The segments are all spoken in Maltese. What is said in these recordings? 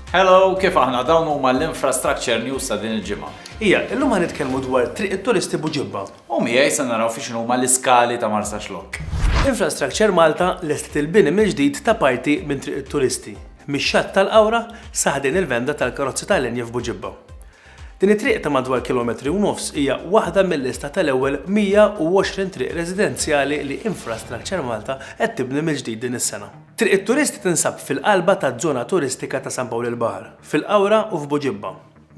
Hello, kif aħna dawn huma l-infrastructure news ta' din il-ġimgħa. Ija, illum għan nitkellmu dwar triq it-turisti buġibba. U miegħi se naraw fiex huma l-iskali ta' Marsa Xlok. Infrastructure Malta lestet il-bini mill-ġdid ta' parti minn triq it-turisti, mix-xatt tal-Qawra saħdin il-venda tal-karozzi tal-linja f'Buġibba. Din it-triq ta' madwar kilometri u nofs hija waħda mil-lista tal-ewwel 120 triq residenzjali li Infrastructure Malta qed tibni mill-ġdid din is-sena. Triq it-Turisti tinsab fil-qalba taż-żona turistika ta' San Pawl il-Baħar, fil-Qawra u f'Buġibba.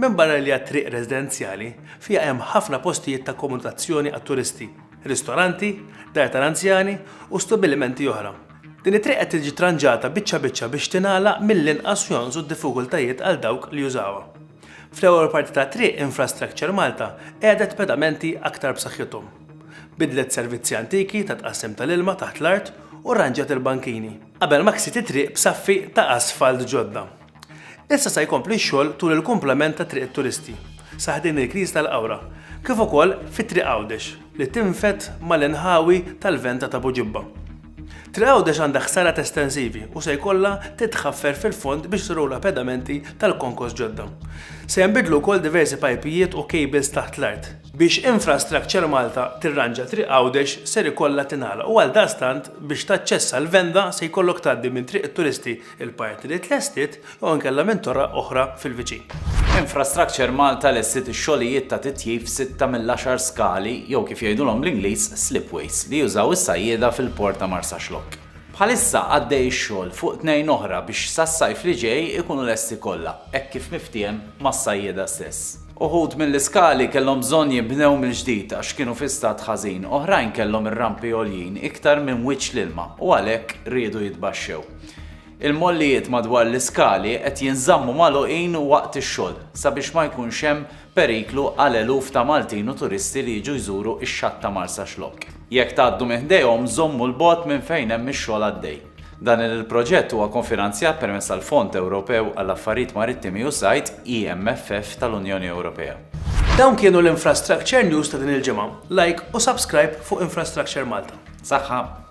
Minbarra li hija triq residenzjali, fiha hemm ħafna postijiet ta' akkomodazzjoni għat-turisti, ristoranti, dar tal-anzjani u stabbilimenti oħra. Din it-triq qed tiġi tranġata biċċa biċċa biex tingħalaq mill-inqas u jonqsu d-diffikultajiet għal dawk li jużawha. Fl-ewwel parti tat-triq Infrastructure Malta qegħdet pedamenti aktar b'saħħithom. Biddlet servizzi antiki ta' tqassim tal-ilma taħt l-art u rranġjat il-bankini, qabel ma ksiet it-triq b'saffi ta' asfalt ġodda. Issa se jkompli x-xogħol tul il-kumplament ta' Triq it-Turisti, sa ħdejn il-Knisja tal-Qawra, kif ukoll fi Triq Għawdex, li tinfed mal-inħawi tal-Venta t'Abu Ġibba. Tre'Għawdex għandha ħsarat estensivi u se jkollha titħaffer fil-fond biex tirrola pedamenti tal-konkos ġodda. Se jinbidlu wkoll diversi pajpijiet u cables taħt l-art. Biex Infrastructure Malta tirranġa Triq Għawdex ser ikollha tingħalaq u għaldaqstant biex taċċessa l-Venda se jkollok tgħaddi minn Triq it-Turisti il-parti li tlestit jew inkella minn torra oħra fil-viċin. Infrastructure Malta lestiet ix-xogħlijiet ta' titjib f'sitta mill-għaxar skali jew kif jgħidulhom bl-Ingliż slipways li jużaw is-sajjieda fil-port ta' Marsaxlokk. Bħalissa għaddej ix-xogħol fuq tnejn oħra biex sas-sajf li ġej ikunu lesti kollha hekk kif miftiehem mas-sajjieda stess. Uħud mill-iskali kellhom bżonn jinbnew mill-ġdid għax kienu fi stat ħażin, oħrajn kellhom ir-rampi għoljin iktar minn wiċċ l-ilma u għalhekk riedu jitbaxxew. Il-mollijiet madwar l-iskali qed jinżammu magħluqin waqt ix-xogħol sabiex ma jkunx hemm periklu għal eluf ta' Maltin u turisti li jiġu jżuru x-xatt ta' Marsaxlokk. Jekk tgħaddu minn ħdejhom żommu 'l bogħod minn fejn hemm ix-xogħol għaddej. Dan il-proġett huwa kofinanzjat permezz tal-Fond Ewropew għall-Affarijiet Marittimi u Sajd, EMFF, tal-Unjoni Ewropea. Dawn kienu l-Infrastructure News ta' din il-ġimgħa. Like u subscribe fuq Infrastructure Malta. Saħħa!